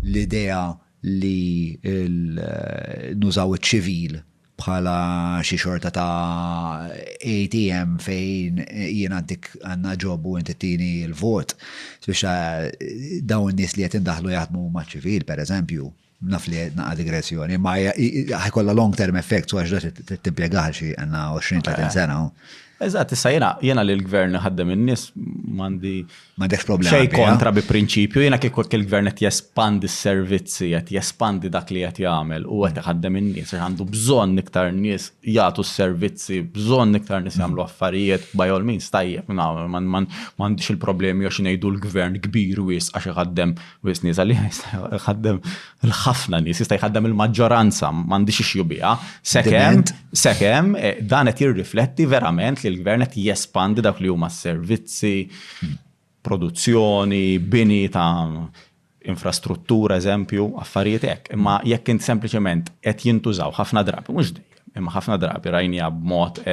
l-idea li nużaw iċ-ċivil bħala xi xorta ta' ATM fejn jien għaddik għandna ġob u inti tini l-vot, spiċċa dawn in-nies li qed indaħħlu jaħdmu maċ-ċivil, pereżempju, Naf li naqa' digressjoni, ma ħajkollha long term effect so għax da timpjegah xi għandna 20-30 eh. sena. Eżatt, issa jena, jena li l-gvern ħaddem in-nies m'għandi m'għandekx problema. Xej kontra bi prinċipju, jena kieku il-gvern qed jespandi s-servizzi, qed jespandi dak li qed jagħmel u qed iħaddem in-nies għax għandu bżonn iktar nies jagħtu s-servizzi, bżonn iktar nies jagħmlu affarijiet by all means tajjeb, m'għandix il-problemi għax ngħidu l-gvern kbir wis għax iħaddem Wis nies għalih jista' jħaddem l-ħafna nies, jista' jħaddem il-maġġoranza, m'għandix ixju biha. Sekemm, sekemm, eh, dan qed jirrifletti verament li l-gvern qed jespandi dak li huma servizzi, produzzjoni, bini ta' infrastruttura, eżempju, affarijiet hekk. Imma jekk int sempliċement qed jintużaw ħafna drabi, mhux dejjem, imma ħafna drabi rajnija b'mod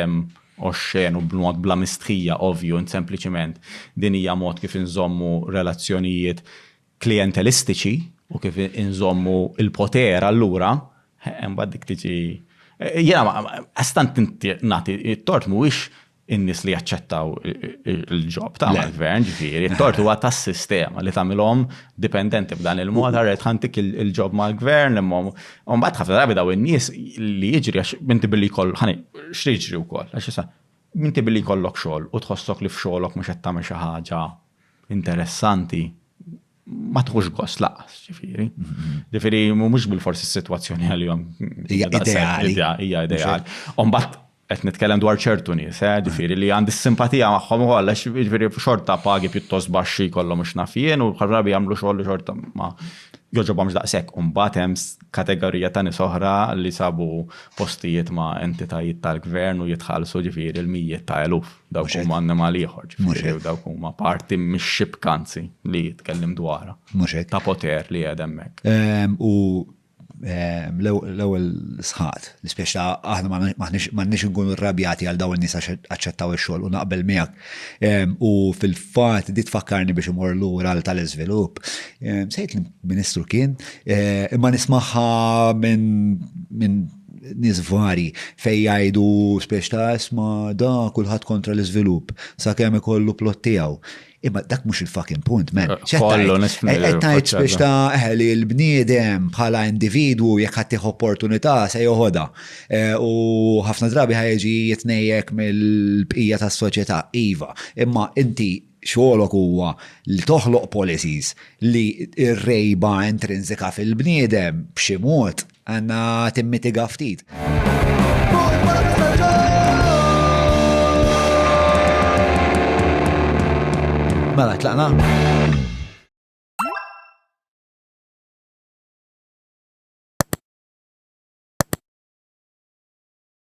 oxxen u b'mod bla mistħija, ovvju, int sempliċement din hija mod kif inżommu relazzjonijiet klijentelistiċi u kif inżommu l-poter allura, imbagħad dik tiġi jiena għastant nagħti t-tort mhuwiex in-nies li jaċċettaw il-ġob ta' mal-gvern, ġifieri, t-tort huwa tas-sistema li tagħmilhom dipendenti b'dan il-mod, ara qed ħantik il-ġob mal-gvern imma Umbat ħafna drabi daw in-nies li jiġri għax minti billi koll, ħani, x'riġri wkoll, għax issa, minti billi kollok xogħol u tħossok li f'xogħolok mhux qed tagħmel xi ħaġa interessanti, ma tħux gost laqas, ġifieri. Mhm. Ġifieri mhux bil-forsi s-sitwazzjoni għalihom. Hija ideali. Hija ideali. Umbat qed nitkellem dwar ċertu nies, eh, ġifieri li għandi s-simpatija magħhom ukoll għax ġifieri xorta pagi pjuttost baxxi kollhom mhux naf jien u bħal rabi jagħmlu xogħol li xorta ma joġobhomx daqshekk. U mbagħad hemm kategorija ta' nies oħra li sabu postijiet ma' entitajiet tal-gvern u jitħallsu ġifieri l-mijiet ta' eluf. Dawk huma annimal ieħor, ġifieri dawk huma parti mix-xibkanzi li jitkellem dwarha. Ta' poter li qed hemmhekk. Ehm, u L-ewwel sħaqt, l-ispjeċta aħna m'għandniex inkunu rrabjati għal dawn in-nies għax aċċettaw ix-xogħol u naqbel miegħek. U fil-fatt di tfakkarni biex imur lura għal tal-iżvilupp. Sejt l-Ministru kien, imma nismaħħa minn nies vari fej jgħidu spiex ta' isma da kulħadd kontra l-iżvilupp sakemm ikollu plot tiegħu. Imma dak mhux il-fucking punt, man. Eh, kollu nisfni. Eh, Tajt biex ta' eh, li l-bniedem bħala individwu jekk ħaddih opportunità se joħodha. U ħafna drabi ħajġi jitnejjek mill-bqija tas-soċjetà, iva. Imma inti xogħolok huwa li toħloq policies li r-rejba intrinsika fil-bniedem b'xi mod Għanna timmitiga ftit. Mela, tlaqna.